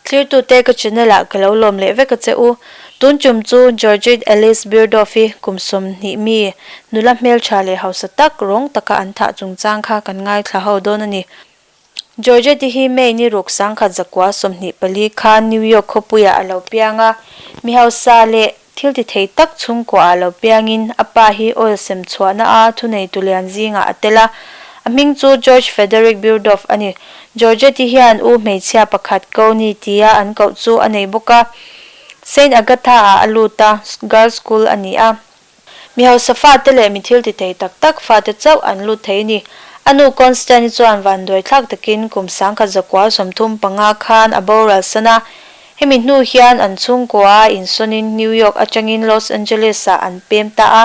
Thirtute ka channel ah ka lo lawm leh vek a che u. Tun tum chu Georgette Alice Birdoff i kum sawm hnih mi nula hmeltha leh hausa tak rawng taka an thah chungchang kha kan ngaithla ho dawn a ni. Georgette hi May ni ruk sangkhat zakua sawmhnih pali kha New York khawpuiah a lo piang a, mi hausa leh. Thilti theih tak chhungkuaha lo piangin a pa hi oil sem chhuahna a thuneitu lian zingah a tel a. A hming chu George Frederick Birdhoff a ni. Georgette hian u hmeichhia pakhat Connie tia an koh chu a nei bawk a. Saint Agatha-ah a lut a, girls school a ni a. Mi hausa fate leh mi thilti theih tak tak fate chauh an lut thei a ni. A nu Constance-i chuan vanduai thlak takin kum sangkhat zakual sawmthum panga khan a boral san a, Hemi hnu hian an chhungkua a insawnin New York atangin Los Angeles-ah an pem ta a.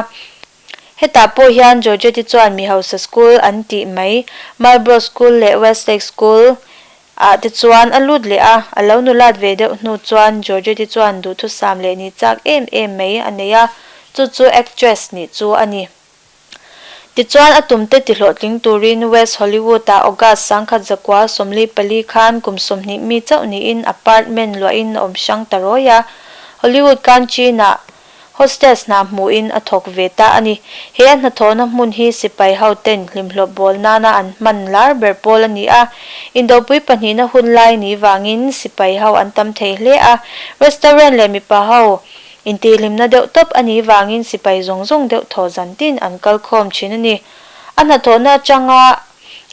Hetah pawh hian Georgette-i chuan mi hausa school an tih mai, Marlboro School leh Westlake School, ah te chuan a lut leh a. A lo nulat ve deuh hnu chuan Georgette-i chuan duhthusam leh nihchak em em mai a nei a, chu chu actress nih chu a ni. Tichuan, a tumte tihlawhtling turin West Hollywood-a August sangkhat zakua sawmli pali khan kum sawmhnih mi chauh niin apartment luahin a awm hrang ta rawi a. Hollywood Canteen-ah hostess hna hmuhin a thawk ve ta a ni. He a hnathawhna hmun hi sipai hoten hlimhlawp bawl nana an hman lar ber pawl a ni a. Indopui pahnihna hun lai ni vangin sipai ho an tam thei hle a. Restaurant leh mipa ho Intihhlimna deuh tawp a nih vangin sipai zawng zawng deuh thaw zantin an kal khawm thin a ni. A hnathawhna atanga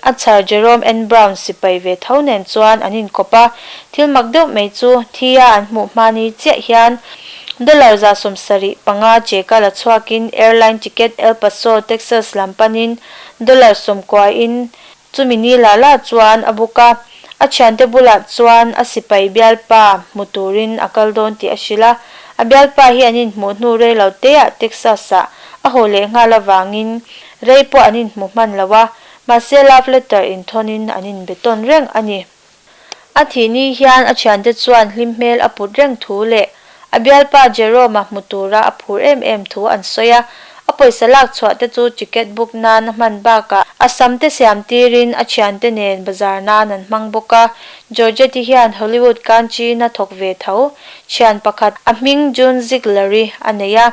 a chhar Jerome N. Brown sipai ve tho nen chuan an inkhawp a, thil mak deuh mai chu thi a an hmuh hma ni chiah hian dollar za sawm sarih panga check-a la chhuakin airline ticket El Paso, Texas lam panin dollar sawmkua in Chumi ni la la chuan a buk a, a thiante bulah chuan a sipai bialpa hmu turin a kal dawn tih a hrilh a. A bialpa hi an inhmuh hnu rei lo têah Texas-ah a haw leh nghal avangin rei pawh an inhmu hman lo a, mahse love letter inthawn in an inbe tawn reng a ni. A thihni hian a thiante chuan hlim hmel a put reng thu leh a bialpa Jerome-a hmu tura a phur em em thu an sawi a. A pawisa lak chhuah te chu ticket book nan a hman bakah a sam te siam tirin a thiante nen bazar nan an hmang bawk a. Georgette hian Hollywood Kanchiin a thawk ve tho. Thian pakhat a hming June Ziglary a nei a.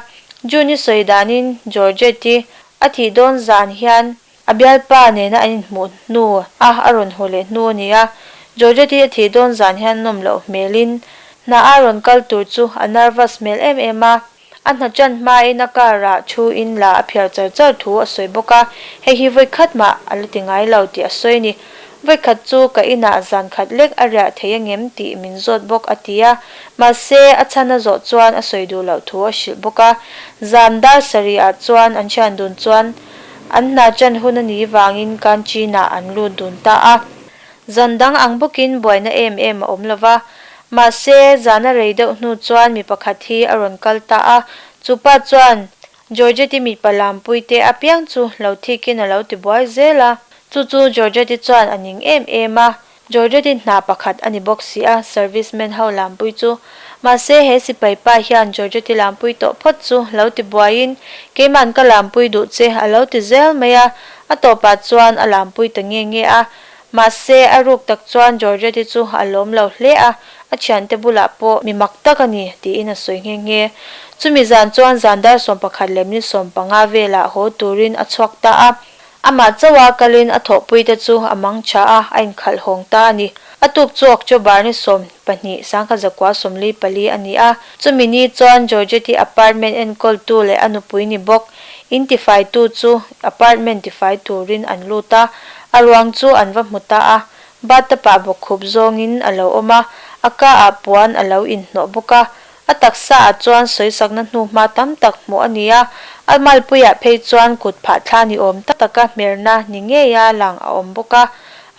June-i sawi danin Georgette-i a thih dawn zan hian A bialpa nena an inhmuh hnu a a rawn haw leh hnu a ni a. Georgette hi a thih dawn zan hian nawm loh hmelin hna a rawn kal tur chu a nervous hmel em em a. A hna ṭan hmain a car ah ṭhu in la a phiar char char thu a sawi bawk a, hei hi vawikhat mah a la ti ngai lo tih a sawi a ni. Vawikhat chu ka inah zan khat lek a riah theih ang em tih min zawt bawk a ti a, mahse a chhan a zawh chuan a sawi duh loh thu a hrilh bawk a. Zam dar sarih ah chuan an thian dun chuan. an hna chan hun a nih vangin Kanchinah an lut dun ta a. Zan dang ang bawkin buaina em em a awm lo va, mahse zana rei deuh hnu chuan mi pakhat hi a rawn kal ta a, chupa chuan Georgette-i mipa lampuite apiang chu lo thikin a lo ti buai zel a. Chu chu Georgette-i chuan a ning em em a, Georgette-i hna pakhat a ni bawk si a, serviceman ho lampui chu. Mahse, he sipai pa hian Georgette-i lampui tawh phawt chu lo ti buaiin, Keima'n ka lampui duh che, a lo ti zel mai a. A tawpah chuan a lampui ta nge nge a. Mahse, a ruk tak chuan Georgette-i chu a lawm lo hle a, a thiante bulah pawh mi mak tak a ni tiin a sawi nghe nghe. Chumi zan chuan zan dar sawmpakhat lem ni sawmpanga velah haw turin a chhuak ta a. Amah chauha kalin a thawhpui te chu a mang tha a, a inkhalhawng ta a ni. A tuk chu Oktobarni sawm pahnih sangkha zakua sawmli pali a ni a. Chumi ni chuan Georgette-i apartment enkawltu leh a nupui ni bawk in tifaitu chu apartment tifai turin an lut a, a ruang chu an va hmu ta a. Bathtub-ah bawkkhup zawngin a lo awm a, a ka-ah puan a lo inhnawh bawk a, A taksa ah chuan sawisakna hnuhma tam tak hmuh a ni a, a malpui ah phei chuan kut phah thla ni awm tak taka hmerhna ni ngei a lang a awm bawk a,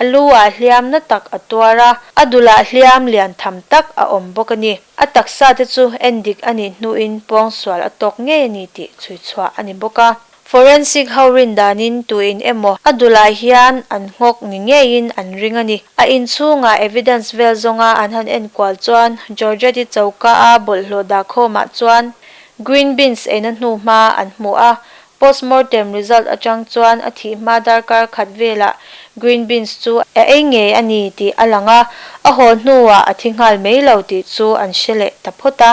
a lu ah hliam na tak a tuar a, a dul ah hliam lian tham tak a awm bawk a ni. A taksa te chu en dik a nih hnu in puangsual a tawk ngei a ni tih chhui chhuah a ni bawk a. Forensic ho rindanin tuin emaw a dulai hian an nghawk ni ngeiin an ring a ni. A inchhungah evidence vel zawnga an han enkual chuan Georgette-i choka a bawlhhlawh dah khawmah chuan green beans eina hnu hma an hmu a. Postmortem result atang chuan a thih hma darkar khat velah Green beans chu a ei ngei a ni tih a lang a, a haw hnuah a thi nghal mai lo tih chu an hre leh ta phawt a.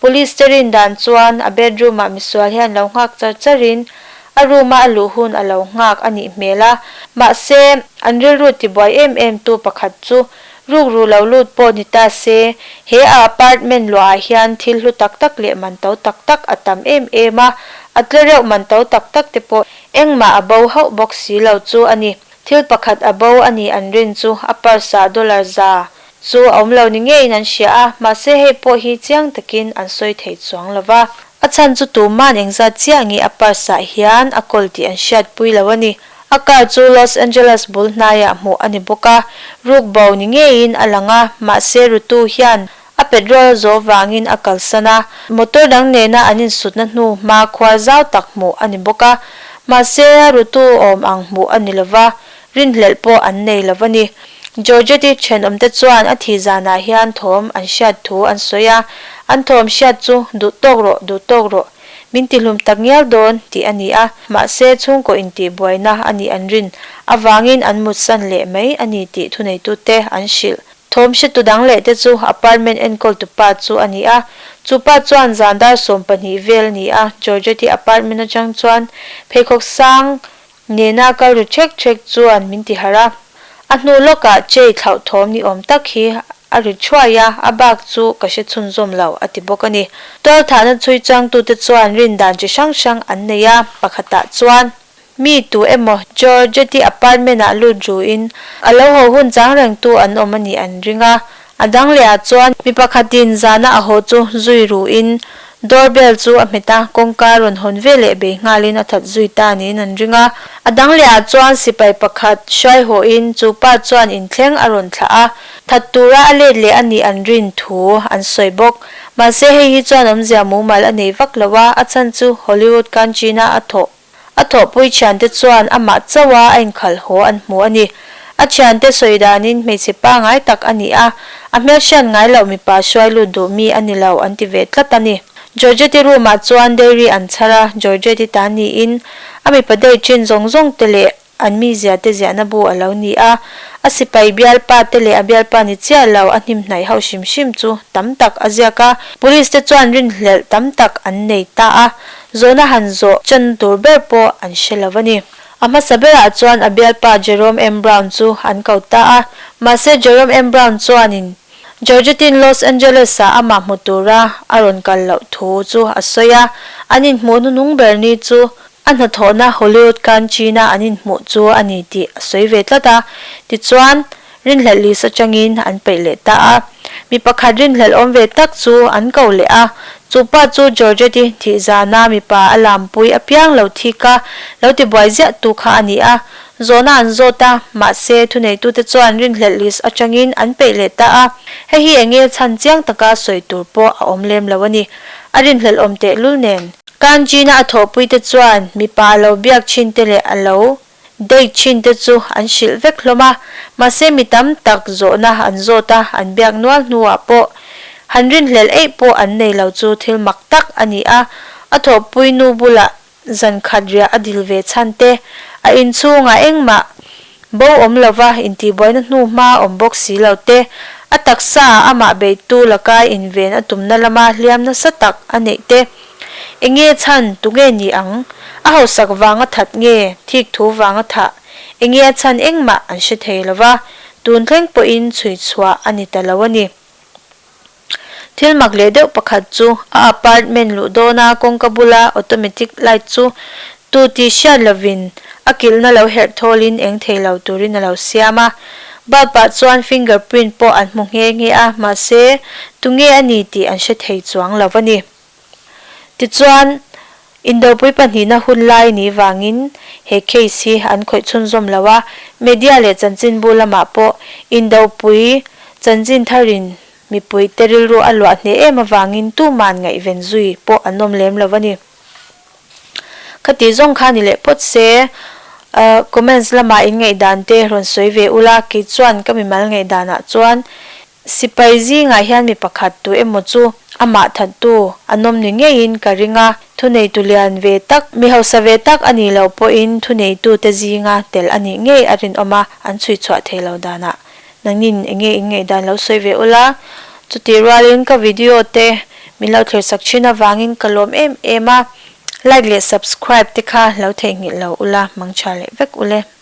Police te rin dan chuan a bedroom-ah misual hian lo nghak char charin a room-a a luh hun a lo nghak a nih hmel a. Mahse, an rilru tibuai em em tu pakhat chu rukru lo lut pawh ni ta se, he a apartment luah-ah hian thil hlu tak tak leh man to tak tak a tam em em a, a tle reuh man to tak tak te pawh Engmah a bo hauh bawk si lo chu a ni. Thil pakhat a bo a nih an rin chu a purse-ah dollar za chu a awm lo ni ngeiin an hria a, mahse hei pawh hi chiang takin an sawi thei chuang lo va. A chhan chu tuman engzat chiah nge a purse-ah hian a kawl tih an hriat pui lo a ni. A car chu Los Angeles bul hnaiah hmuh a ni bawk a, ruk bo ni ngeiin a lang a, mahse rutu hian A petrol zawh vangin a kalsan a, motor dang nena an insutna hnu hma khuar zau tak hmuh a ni bawk a. Mahse, a rutu awm ang hmuh a ni lo va, rinhlelh pawh an nei lo a ni. Georgette-i thenawmte chuan a thi zanah hian thawm an hriat thu an sawi a, An thawm hriat chu duh tawk rawh, duh tawk rawh. Min tihlum tak ngial dawn, tih a ni a. Mahse, chhungkaw intihbuaina a nih an rin avangin an mutsan leh mai a ni tih thuneitute an hrilh. Thawmhse tudang leh te chu apartment enkawltu pa chu a ni a, chu pa chuan zandar sawm pahnih vel a ni a, Georgette-i apartment atang chuan pheikhawk sang nena kal ru ṭhek ṭhek chuan min tiharh a, a hnu lawkah Che-i thlauh thawm ni awm tak hi a ri ṭhuai a, a bak chu ka hre chhunzawm lo a ti bawk a ni. Tualthahna chhui changtute chuan rindan chi hrang hrang an nei a, pakhatah chuan. Mi tu emaw Georgette-i apartment-ah lut ruin a lo haw hun chang reng tu an awm a nih an ring a. A dang lehah chuan mi pakhatin zana a haw chu zui ruin door bell chu a hmet a, kawngka rawn hawn ve leh bei nghalin a that zui ta niin an ring a. A dang lehah chuan sipai pakhat hruai hawiin chu pa chuan in thleng a rawn thlah a, that tura a let leh a nih an rin thu an sawi bawk. Mahse hei hi chuan awmzia mumal a nei vak lo a, a chhan chu Hollywood country-na a thawh. A thawhpui thiante chuan amah chauh a a inkhal haw an hmu a ni. A thiante sawi danin hmeichhe pangngai tak a ni a, a hmelhriat ngai loh mipa suai lut duh mi a ni lo an ti ve tlat a ni. Georgette-i room-ah chuan diary an chhar a, Georgette-i ta niin a mipa daydream zawng zawng te leh an mizia te ziahna bu a lo ni a, a sipai bialpa te leh a bialpa ni chiah lo a hnimhnai ho hrim hrim chu tam tak a ziak a, police te chuan rinhlelh tam tak an nei ta a, zawhna han zawh chan tur ber pawh an hre lo a ni. A hmasa berah chuan a bialpa Jerome M. Brown chu an ko ta a, mahse Jerome M. Brown chuanin Georgette-in Los Angeles-ah amah hmu tura a rawn kal loh thu chu a sawi a, an inhmuh hnunung ber ni chu A hnathawhna Hollywood kan China an inhmuh chu a ni tih a sawi ve tlat a, tichuan rinhlelh lihs atangin an peih leh ta a. Mi pakhat rinhlelh awm ve tak chu an ko leh a, chu pa chu Georgette-i thihzana mipa a lampui a piang lo thi ka lo ti buai ziah tu kha a ni a, zawhna an zawt a, mahse thuneitute chuan rinhlelh lihs atangin an peih leh ta a, hei hi enge chhan chiang taka sawi tur pawh a awm lem lo a ni. a rinhlelh awm tehlul nen. Kanjina a thawhpui te chuan mipa a lo biak thin te leh a lo date thin te chu an hrilh vek hlawm a, mahse mi tam tak zawhna an zawt a, an biak nual hnuah pawh han rinhlelh eih pawh an nei lo chu thil mak tak a ni a. A thawhpui nu bulah zan khat riah a dil ve chhan te a inchungah engmah bo awm lova intihbuaina hnu hma awm bawk si lo te, a taksa ah amah beih tu laka inven a tumna lama hliam nasa tak a neih te, enge chhan tu nge ni ang? A hausak vanga that nge thik thu vanga thah? Enge a chhan engmah an hre thei lova tun thleng pawhin chhui chhuah a ni ta lo a ni. Thil mak leh deuh pakhat chu a apartment luh dawna kawngka bula automatic light chu tu tih hriat lovin a kilhna lo herh thawlin eng thei lo turin a lo siam a. Bulb ah chuan fingerprint pawh an hmu nghe nghe a, mahse tunge a ni tih an hre thei chuang lo a ni. Tichuan, Indopui pahnihna hun lai ni vangin he case hi an khawih chhunzawm lo a, media leh chanchinbu lamah pawh Indopui chanchin tharin mipuite rilru a luah hneh em avangin tuman ngaihven zui pawh an awm lem lo a ni. Khatih zawng kha ni leh phawt se, comments lamah in ngaihdan te rawn sawi ve ula, kei chuan ka mimal ngaihdanah chuan Sipai zingah hian mi pakhat tu emaw chu a mah that tu a nawm ni ngeiin ka ring a, thuneitu lian ve tak, mi hausa ve tak a nih loh pawhin thuneitute zinga tel a nih ngei a rinawm a, an chhuihchhuah thei lo danah nangin enge in ngaih dan lo sawi ve ula, chutih rualin ka video te min lo thlersak thin avangin ka lawm em em a, like leh subscribe te kha lo theihnghilh lo ula mangṭha leh vek ule.